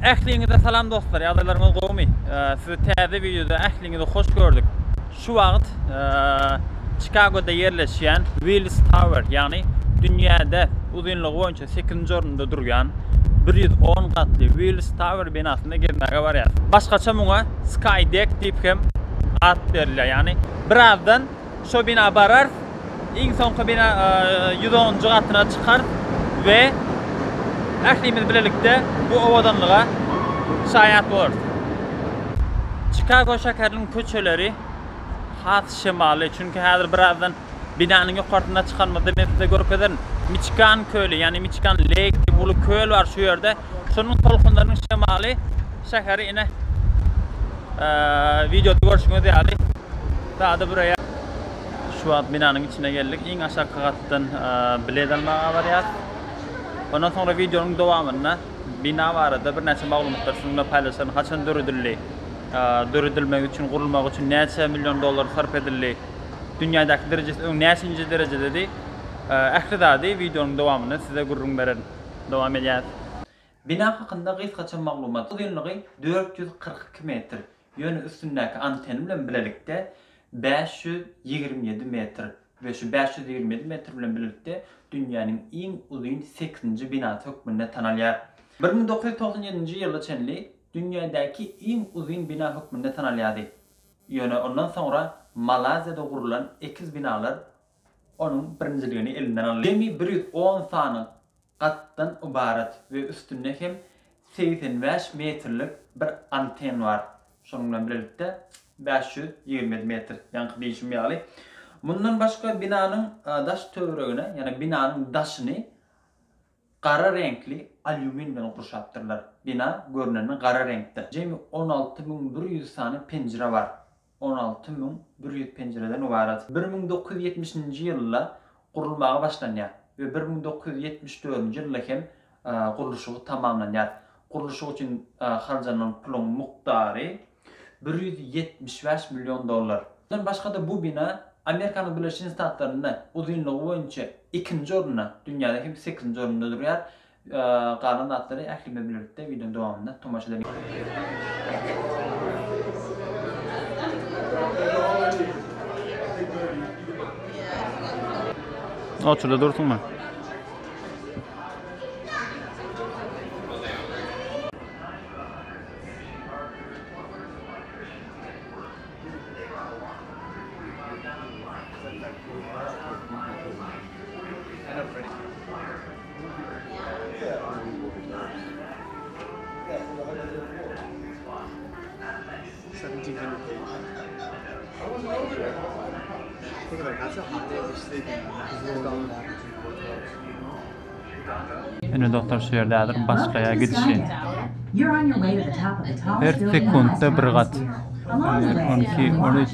Ähliňize salam dostlar ýagdaýlaryňyz gowumy sizi täze wideoda ähliňizi hoş gördük şu wagt Çikagoda ýerleşýän Willis Tower ýagny dünýäde uzynlygy boýunça 8-nji orunda durýan 110 gatly Willis Tower binasynda gezmäge barýarys başgaça muňa Skydeck diýip hem at berilýär ýagny birazdan Şo bina bararys. Iň soňky bina ýüz onunjy gatyna çykarys we ählimiz bilelikde bu owadanlyga şaýat bolarys. Çikago şäheriniň köçeleri has şemaly, çünki häzir birazdan binanyň ýokarsyna çykanymyzda men size görkezerin. Miçigan köli, ýagny Miçigan Lake diýip uly köl bar şu ýerde. Şonuň tolkunlarynyň şemaly şäheri ine wideoda görşüňiz ýaly Sada büreýär. Şu wagt binanyň içine geldik. Iň aşakky gatdan bilet almaga barýas. Ondan soňra wideonyň dowamynda bina barada birnäçe maglumatlar siziň bilen paýlaşaryn. Haçan döredildi? Döredilmegi üçin, gurulmagy üçin näçe million dollar sarp edildi? Dünýädäki derejesi öň näçinji derejededi? Ähli zady wideonyň dowamynda size gürrüň bererin. Dowam edýäs. Bina hakynda gysgaça maglumat. Uzynlygy dört ýüz kyrk iki metr, Ýöne üstündäki antenna bilen bilelikde bäş ýüz ýigrimi ýedi metr we şu bäş ýüz ýigrimi ýedi metr bilen bilelikde dünýäniň iň uzyn sekizinji binasy hökmünde tanalýar. Bir müň dokuz ýüz togsan ýedinji ýyla çenli dünýädäki iň uzyn bina hökmünde tanalýardy. Ýöne ondan soňra Malaýziýada gurlan ekiz binalar onuň birinjiligini elinden aldy. Jemi bir ýüz on sany gatdan ybarat we üstünde hem segsen bäş metrlik bir anten bar. Şonuň bilen bilelikde bäş ýüz ýigrimi ýedi metr, ýaňky diýşim ýaly. Mundan başga binanyň daş töweregine, ýagny binanyň daşyny gara reňkli alýumin bilen gurşapdyrlar. Bina görnenden gara reňkde. Jemi on alty müň bir ýüz sany penjire bar. on alty müň bir ýüz penjireden ybarat. Bir müň dokuz ýüz ýetmiş nji ýylda gurulmaga başlanýar we bir müň dokuz ýüz ýetmiş dördünji ýylda hem gurluşygy tamamlanýar. Gurluşyk üçin harjanylan puluň mukdary bir ýüz ýetmiş bäş million dollar. Mundan başga-da bu bina Amerikanyň Birleşen Ştatlarynda uzynlygy boýunça ikinji orunda, dünýäde hem sekizinji orunda durýar. Galan zatlary ähli bilen bilelikde wideonyň dowamynda tomaşa edeliň. Ine dostlar şu ýerde häzir başgaýa gidişi. Her sekuntda bir gat. On iki, on üç.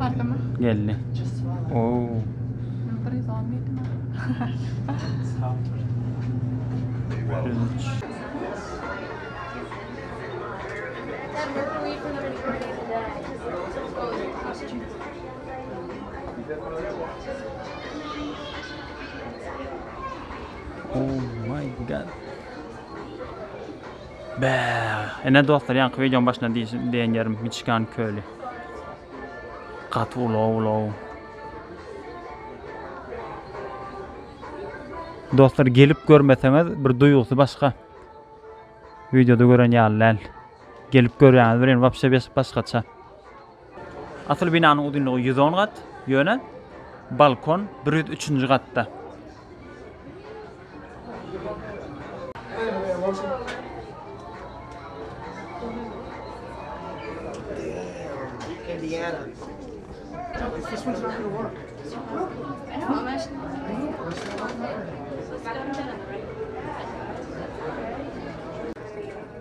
Bardymy? Geldi. Oo. Oh my god. Bä! Ine dostlar, ýaňky wideoň başynda diýen ýerim Miçigan köli. Gaty ulag-ulag. Dostlar, gelip görmeseňiz bir duýgusy başga. Wideoda gören ýaly däl. Gelip görýäňiz bilen wapşe başgaça. Asyl binanyň uzynlygy ýüz on gat, ýöne balkon bir ýüz üçünji gatda.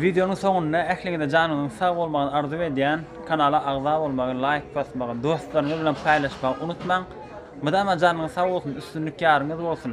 Wideonyň soňunda ähliňize janyňyzyň sag bolmagyny arzuw edýän. Kanala agza bolmagy, laýk basmagy, dostlaryňyz bilen paýlaşmagy unutmaň. Mydama janyňyz sag bolsun, üstünlik ýaryňyz bolsun!